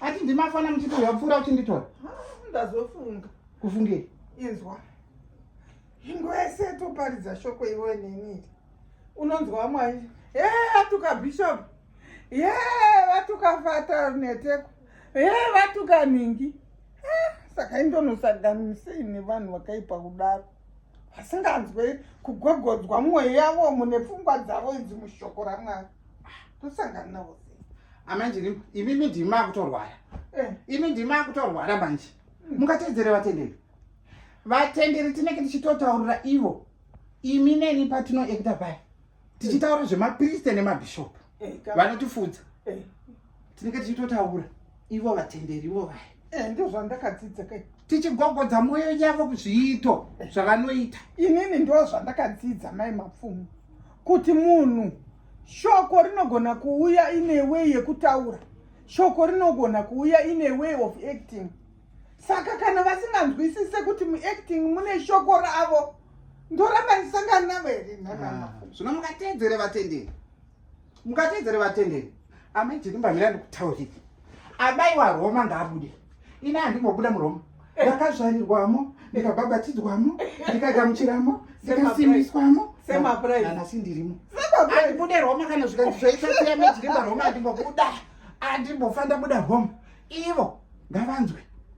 ati ndimafana muchiti uya kupfuura uchinditora ah, ndazofunga kufungei inzwa ingwese toparidza shoko iwe neniri unonzwa mwai he atuka bishop ye vatuka fata neteko ye vatuka ningi saka indonosaganisei nevanhu vakaipa kudaro vasinganzwe kugogodzwa mwoyo yavo mune pfungwa dzavo idzi mushoko ramwari tosangana navo sei amanje ah, imimi ndimi makutorwara eh. imi ndimi makutorwara manje hmm. mungatedzere vatenderi vatenderi tinenge tichitotaurira ivo imi neni patinoekta pai tichitaura zvemapriste nemabhishopu eh, vanotifudza eh. tinenge tichitotaura ivo vatenderi ivo vaya eh, ndo zvandakadzidza kai tichigogodza mwoyo yavo zviito zvavanoita inini ndo zvandakadzidza mai mapfumo kuti munhu shoko rinogona kuuya ine way yekutaura shoko rinogona kuuya ine way of acting saka kana vasinganzwisise kuti muacting mune shoko ravo ndoramba ndisangana navo here nhanaa ah, zvino mungateedzere vatenderi Mukatedzere vatenderi. Amai Chirimba mira ndikutaurire. Amai wa Roma ngaabude. Ina handimbobuda muRoma. Ndakazvarirwamo, ndikabhabhatidzwamo, ndikagamuchiramo, ndikasimbiswamo. Sema praise. Kana sindirimo. Sema praise. Andibude Roma kana zvikanzi zvaita siya Mai Chirimba Roma andimbobuda. Andimbofanda buda Roma. Ivo ngavanzwe.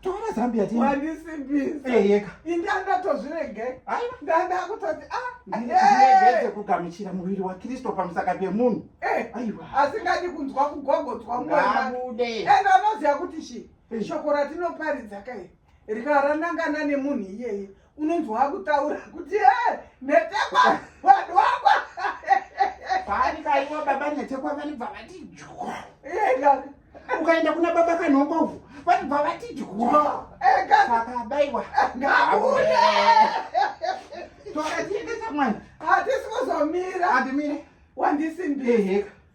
Tora Zambia tena. Mwanisi bizi. Eh yeka. Indanda tozvirege. Aiwa. Ndanda kutoti ah. Ndiregeze kugamuchira muviri wa Kristo pamusaka pemunhu. Eh. Aiwa. Asingadi kunzwa kugogodzwa mwana. Ngabude. Enda anoziva kuti shi. Eh. Shoko ratinoparidza kai. Rikaranangana nemunhu iyeye. unonzwa wakutaura kuti eh, netekwa vanhu wakwa paanikaiwa baba netekwa vanibva vati jwa eh, ukaenda kuna baba kanhongovu vanibva vati jwa eh, saka abaiwa ngabude tokatiendesa mwana hatisi kuzomira handimire wandisimbiheka